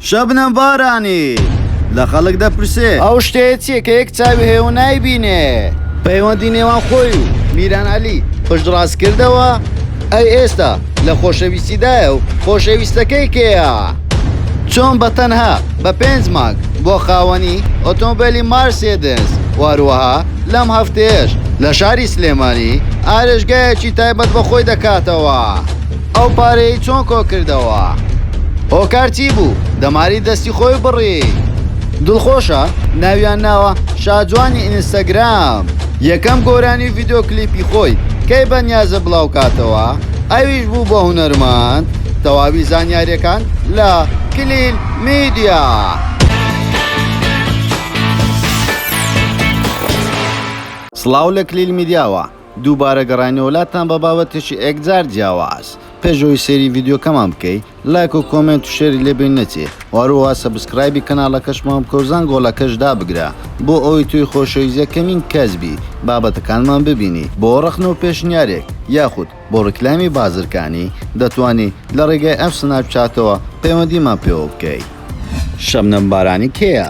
شەبنەم بارانی لە خەڵک دەپرسێ. ئەو شتەیە چییە کە یەک چاوی هەیە و نایبینێ؟ پەیوەندی نێوان خۆی و میران عەلی پشتڕاست کردەوە، ئەی ئێستا لە خۆشەویستیدایە و خۆشەویستەکەی کێیە؟ چۆن بە تەنها بە پێنج مانگ بووە خاوەنی ئۆتۆمبێلی مارسێدس و هەروەها لەم هەفتەیەش لە شاری سلێمانی ئارێشگایەکی تایبەت بە خۆی دەکاتەوە. ئەو پارەی چۆن کۆکردەوە؟ هۆکار چی بوو دەماری دەستی خۆی بڕی؟ دڵخۆشە ناویان ناوە شاجوانی ئینستاگرام یەکەم گۆرانی ڤیددیو کلیپی خۆی کەی بەنیازە بڵاو کاتەوە ئەویش بوو بە هونەرماند تەواوی زانیارەکان لە کلیل میدیا. سڵاو لە کلیل میدیاوە دووبارە گەڕاینەوە لاتان بە بابەتێکی ئێکجار جیاواز. پێش ئەوەی سەیری ڤیدیۆکەمان بکەی لایک و کۆمێنت و شێری لێ بێ نەچێ و هەروەها سەبسکرایبی کەناڵەکەشمان بکە و زەنگۆڵەکەش دابگرە بۆ ئەوەی تۆی خۆشەویست یەکەمین کەس بی بابەتەکانمان ببینی. بۆ ڕەخنە و پێشنیارێک یاخود بۆ ڕیکلامی بازرگانی دەتوانی لە ڕێگای ئەم سناپ چاتەوە پەیوەندیمان پێوە بکەی. شەبنەم بارانی کێیە؟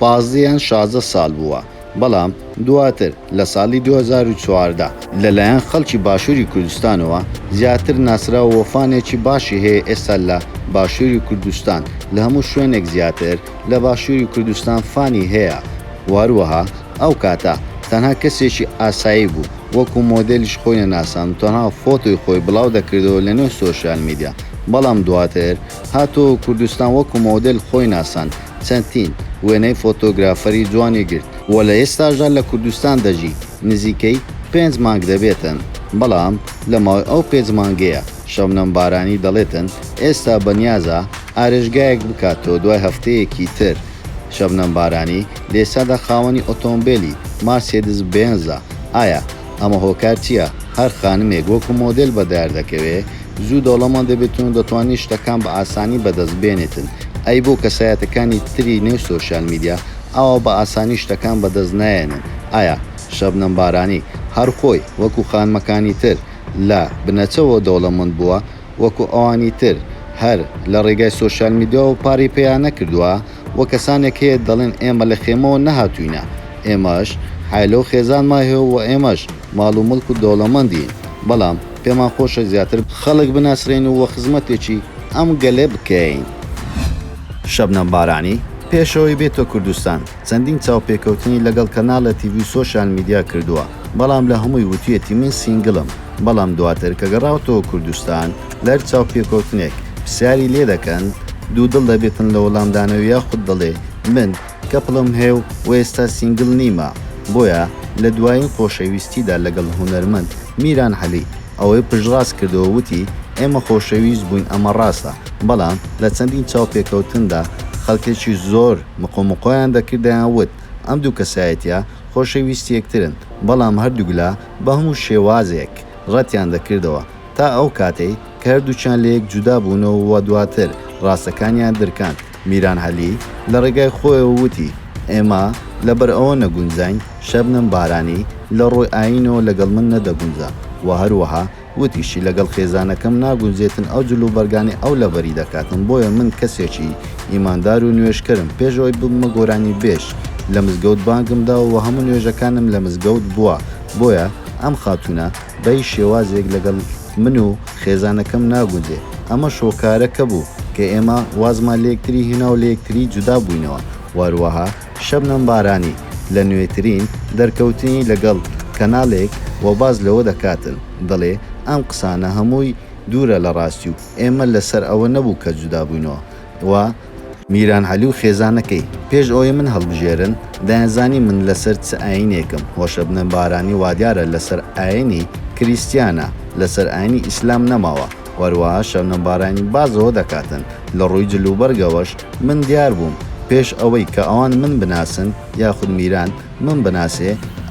پازدە یان شازدە ساڵ بووە، بەڵام دواتر لە ساڵی دوو هەزار و چواردە لەلایەن خەڵکی باشووری کوردستانەوە زیاتر ناسراوە و فانێکی باشی هەیە ئێستا لە باشووری کوردستان لە هەموو شوێنێک زیاتر لە باشووری کوردستان فانی هەیە و هەروەها ئەو کاتە تەنها کەسێکی ئاسایی بوو وەکو مۆدێلیش خۆی نەناساند و تەنها فۆتۆی خۆی بڵاو دەکردەوە لەنێو سۆشیال میدیا بەڵام دواتر هاتەوە کوردستان وەکو مۆدێل خۆی ناساند چەندین وێنەی فۆتۆگرافەری جوانی گرت و لە ئێستاشدا لە کوردستان دەژی، نزیکەی پێنج مانگ دەبێتن، بەڵام لە ماوەی ئەو پێنج مانگەیە شەبنەم بارانی دەڵێتن ئێستا بەنیازە ئارێژگایەک بکاتەوە دوای هەفتەیەکی تر شەبنەم بارانی لە ئێستادا خاوەنی ئۆتۆمبێلی مارسێدس بێنزە ئایا ئەمە هۆکار چیە؟ هەر خانمێک وەکو مۆدێل بەدەاردەکەوێ زوو دەوڵەمەند دەبێتن و دەتوانێ شتەکان بە ئاسانی بەدەست بێنێتن، ئەی بۆ کەسایەتەکانی تری نێو سۆشیال میدیا ئاوا بە ئاسانی شتەکان بەدەست نایەنن؟ ئایا شەبنەم بارانی هەر خۆی وەکو خانمەکانی تر لە بنەچەوە دەوڵەمەند بووە وەکو ئەوانی تر هەر لە ڕێگای سۆشیال میدیاوە پارەی پێیا نەکردووە؟ و کەسانێک هەیە دەڵێن ئێمە لە خێمەوە نەهاتووینە، ئێمەش عایلە و خێزانمان هەیە و ئێمەش ماڵ و موڵک و دەوڵەمەندین، بەڵام پێمان خۆشە زیاتر خەڵک بناسرێین و خزمەتێکی ئەم گەلە بکەین. شەبنەم بارانی، پێشەوەی بێتۆ کوردستان، چەندین چاوپێکەوتنی لەگەڵ کەناڵە تیڤی و سۆشیال میدیا کردووە، بەڵام لە هەمووی وتویەتی من سینگلم بەڵام دواتر کە گەڕاوەتەوە کوردستان لەر چاوپێکەوتنێک پرسیاری لێ دەکەن دوو دڵ دەبێتن لە وەڵامدانەوە یاخود دەڵێ من کەپڵم هەیە و ئێستا سینگل نیمە بۆیە لە دوایین خۆشەویستیدا لەگەڵ هونەرمەند میران عەلی ئەوەی پشتڕاست کردەوە وتی ئێمە خۆشەویست بووین ئەمە ڕاستە بەڵام لە چەندین چاوپێکەوتندا خەڵکێکی زۆر مقۆمقۆیان دەکرد دەیان وت ئەم دوو کەسایەتیە خۆشەویستی یەکترن، بەڵام هەردووکلا بە هەموو شێوازێک ڕەتیان دەکردەوە، تا ئەو کاتەی کە هەردووکیان لە یەک جودا بوونەوە و دواتر ڕاستەکانیان درکاند. میران عەلی لە ڕێگای خۆیەوە وتی، ئێمە لەبەر ئەوە نەگونجاین، شەبنەم بارانی لە ڕووی ئایینەوە لەگەڵ من نەدەگونجا و هەروەها وتیشی، لەگەڵ خێزانەکەم ناگونجێتن ئەو جلوبەرگانەی ئەو لەبەری دەکاتن، بۆیە من کەسێکی ئیماندار و نوێژکەرم، پێش ئەوەی ببمە گۆرانیبێژ لە مزگەوت بانگم داوە و هەموو نوێژەکانم لە مزگەوت بووە، بۆیە ئەم خاتوونە بە هیچ شێوازێک لەگەڵ من و خێزانەکەم ناگونجێ، ئەمە شۆکارەکە بوو کە ئێمە وازمان لە یەکتری هێنا و لە یەکتری جودا بووینەوە، وەهروەها شەبنەم بارانی لە نوێترین دەرکەوتنی لەگەڵ کەناڵێک وە باس لەوە دەکاتن دەڵێ ئەم قسانە هەمووی دوورە لە ڕاستی و ئێمە لەسەر ئەوە نەبوو کە جودا بووینەوە وە میران عەلی و خێزانەکەی پێش ئەوەی من هەڵبژێرن دەیانزانی من لەسەر چ ئاینێکم وە شەبنەم بارانی وادیارە لەسەر ئاینی کریستیانە لەسەر ئاینی ئیسلام نەماوە. و هەروەها شەبنەم بارانی باس لەوە دەکاتن لە ڕووی جل و بەرگەوەش من دیار بووم پێش ئەوەی کە ئەوان من بناسن یاخود میران من بناسێ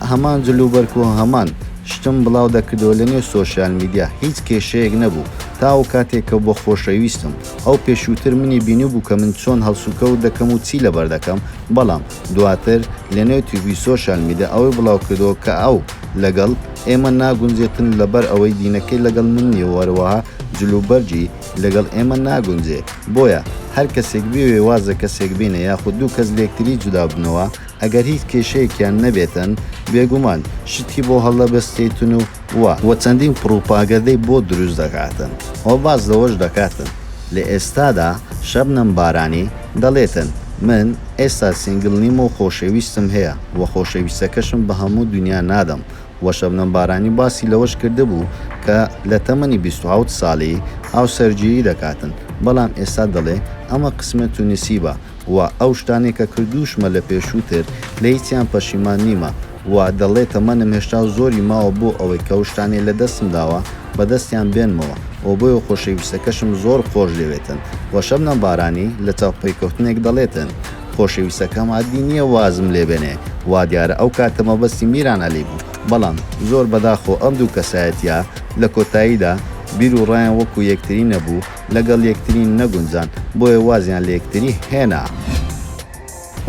هەمان جل و بەرگ و هەمان شتم بڵاو دەکرد و لەنێو سۆشیال میدیا هیچ کێشەیەک نەبوو تا ئەو کاتێک کە بە خۆشەویستم ئەو پێشووتر منی بینیبوو کە من چۆن هەڵسوکەوت دەکەم و چی لەبەر دەکەم بەڵام دواتر لەنێو تیڤی سۆشیال میدیا ئەوەی بڵاوکردەوە کە ئەو لەگەڵ ئێمە ناگونجێتن لەبەر ئەوەی دینەکەی لەگەڵ من نیە و هەروەها جل و بەرگی لەگەڵ ئێمە ناگونجێ بۆیە هەر کەسێک بێوێ واز لە کەسێک بینێ یاخود دوو کەس لێکتری جودا بنەوە ئەگەر هیچ کێشەیەکیان نەبێتن بێگومان شتی بۆ هەڵدەبەستێتن و وە وە چەندین پڕوپاگەدەی بۆ دروست دەکاتن وە باس لەوەش دەکاتن لە ئێستادا شەبنەم بارانی دەڵێتن من ئێستا سینگل نیم و خۆشەویستم هەیە وە خۆشەویستەکەشم بە هەموو دونیا نادەم وە شەبنەم بارانی باسی لەوەش کردبوو کە لە تەمەنی بیست و حەوت ساڵی هاوسەرگیری دەکاتن بەڵام ئێستا دەڵێ ئەمە قسمەت و نسیبە و ئەو شتانەی کە کردووشمە لە پێشووتر لە هیچیان پەشیمان نیمە و دەڵێ تەمەنم هێشتا زۆری ماوە بۆ ئەوەی کە ئەو شتانەی لە دەستم داوە بە دەستیان بێنمەوە و بۆیە خۆشەویستەکەشم زۆر خۆش دەوێتن و شەبنەم بارانی لە چاو پەیکەوتنێک دەڵێتن خۆشەویستەکەم عەدی نییە وازم لێ بێنێ وا دیارە ئەو کاتە مەبەستی میران عەلی بوو بەڵام زۆر بەداخەوە ئەم دوو کەسایەتییە لە کۆتاییدا بیر و ڕایان وەکوو یەکتری نەبوو لەگەڵ یەکتری نەگونجان بۆیە وازیان لە یەکتری هێنا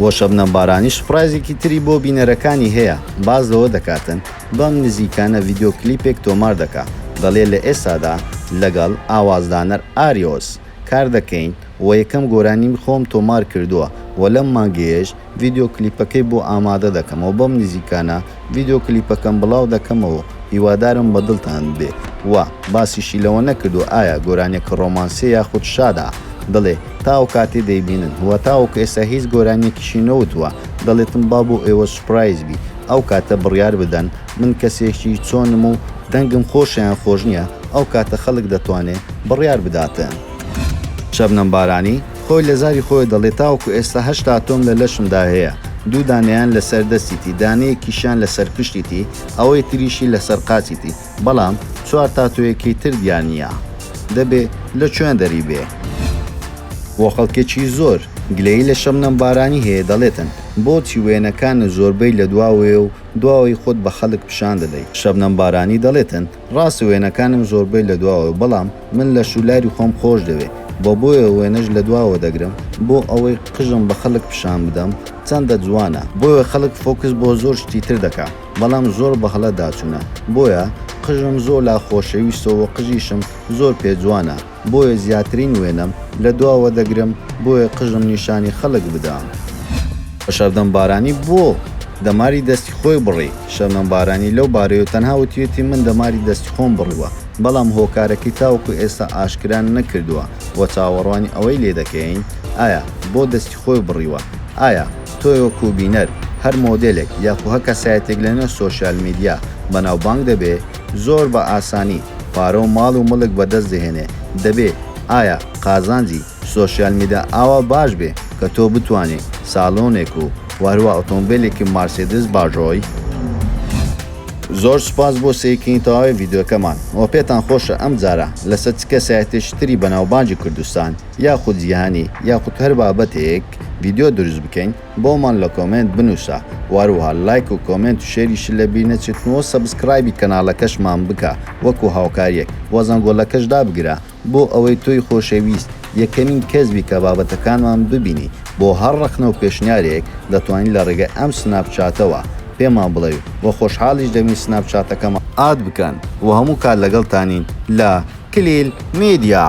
و شەبنەم بارانی سوپڕایزێکی تری بۆ بینەرەکانی هەیە باس لەوە دەکاتن بەم نزیکانە ڤیدیۆ کلیپێک تۆمار دەکا دەڵێ لە ئێستادا لەگەڵ ئاوازدانەر ئاریۆس کار دەکەین و یەکەم گۆرانیم خۆم تۆمار کردووە و لەم مانگەیەش ڤیدیۆ کلیپەکەی بۆ ئامادە دەکەمەوە بەم نزیکانە ڤیدیۆ کلیپەکەم بڵاو دەکەمەوە و هیوادارم بە دڵتان بێ و باسیشی لەوە نەکردووە ئایا گۆرانیەکە ڕۆمانسیە یاخود شادە دەڵێ تا ئەوکاتەی دەیبینن و تاوەکو ئێستا هیچ گۆرانیەکیشی نەوتووە دەڵێتم با بۆ ئێوە سوپرایز بی ئەو کاتە بڕیار بدەن من کەسێکی چۆنم و دەنگم خۆشە یان خۆش نیە ئەو کاتە خەڵک دەتوانێ بڕیار بداتن. شەبنەم بارانی. خۆی لە زاری خۆی دەڵێ تاوەکو ئێستا هەشتا ئەتۆم لە لەشمدا هەیە، دوو دانەیان لە سەر دەستیتی، دانەیەکیشیان لە سەر پشتیتی، ئەوەی تریشی لە سەر قاچیتی، بەڵام چوار تاتۆیەکەی تر دیا نییە. دەبێ لە کوێن دەری بێ؟ بۆ خەڵکێکی زۆر، گلەیی لە شەبنەم بارانی هەیە، دەڵێتن، بۆچی وێنەکانت زۆربەی لە دواوەیە و دواوەی خۆت بە خەڵک پیشان دەدەی؟ شەبنەم بارانی دەڵێتن، ڕاستە وێنەکانم زۆربەی لە دواوەیە بەڵام من لە شولاری خۆم خۆش دەوێ بە بۆیە وێنەش لە دواوە دەگرم بۆ ئەوەی قژم بە خەلک پیشان بدەم چەندە جوانە بۆیە خەلک فۆکس بۆ زۆر شتی تر دەکا بەڵام زۆر بە هەڵە داچونە بۆیە قژم زۆ لا خۆشەویستە وە قژیشم زۆر پێ جوانە بۆیە زیاترین وێنەم لە دواوە دەگرم بۆیە قژم نیشانی خەلک بدام. شەبنەم بارانی بۆ دەماری دەستی خۆی بڕی؟ شەبنەم بارانی لەو بارەیەوە تەنها وتویەتی من دەماری دەستی خۆم بڕیوە، بەڵام هۆکارەکەی تاوەکو ئێستا ئاشکرا نەکردووە و چاوەڕوانی ئەوەی لێ دەکەین ئایا بۆ دەستی خۆی بڕیوە؟ ئایا تۆ وەکو بینەر هەر مۆدێلێک یاخو هەر کەسایەتیەک لەنێو سۆشیال میدیا بەناوبانگ دەبێ؟ زۆر بە ئاسانی پارە و ماڵ و مڵک بەدەست دەهێنێ دەبێ ئایا قازانجی سۆشیال میدا ئاوا باش بێ کە تۆ بتوانێ سالۆنێک و وەهروا ئۆتۆمبێلێکی مارسێدس باژۆی؟ زۆر سوپاس بۆ سەیرکردنی تەواوی ڤیدیۆکەمان وە پێتان خۆشە ئەم جارە لەسەر چ کەسایەتێکی تری بەناوبانگی کوردستان یاخود جیهانی یاخود هەر بابەتێک ڤیدیۆ دروست بکەین؟ بۆمان لە کۆمێنت بنوسە واروها لایک و کۆمێنت و شێریشت لە بیر نەچێتن وە سەبسکرایبی کەنالەکەشمان بکە وەکو هاوکاریەک وە زەنگۆلەکەش دابگرە بۆ ئەوەی تۆی خۆشەویست یەکەمین کەس بی کە بابەتەکانمان ببینی بۆ هەر ڕەخنە و پێشنیارێک دەتوانی لە ڕێگای ئەم سناپ چاتەوە پێمان بڵێی وە خۆشحاڵیش دەبین سناپ چاتەکەمان ئاد بکەن وە هەموو کات لەگەڵتانین لە کلیل میدیا.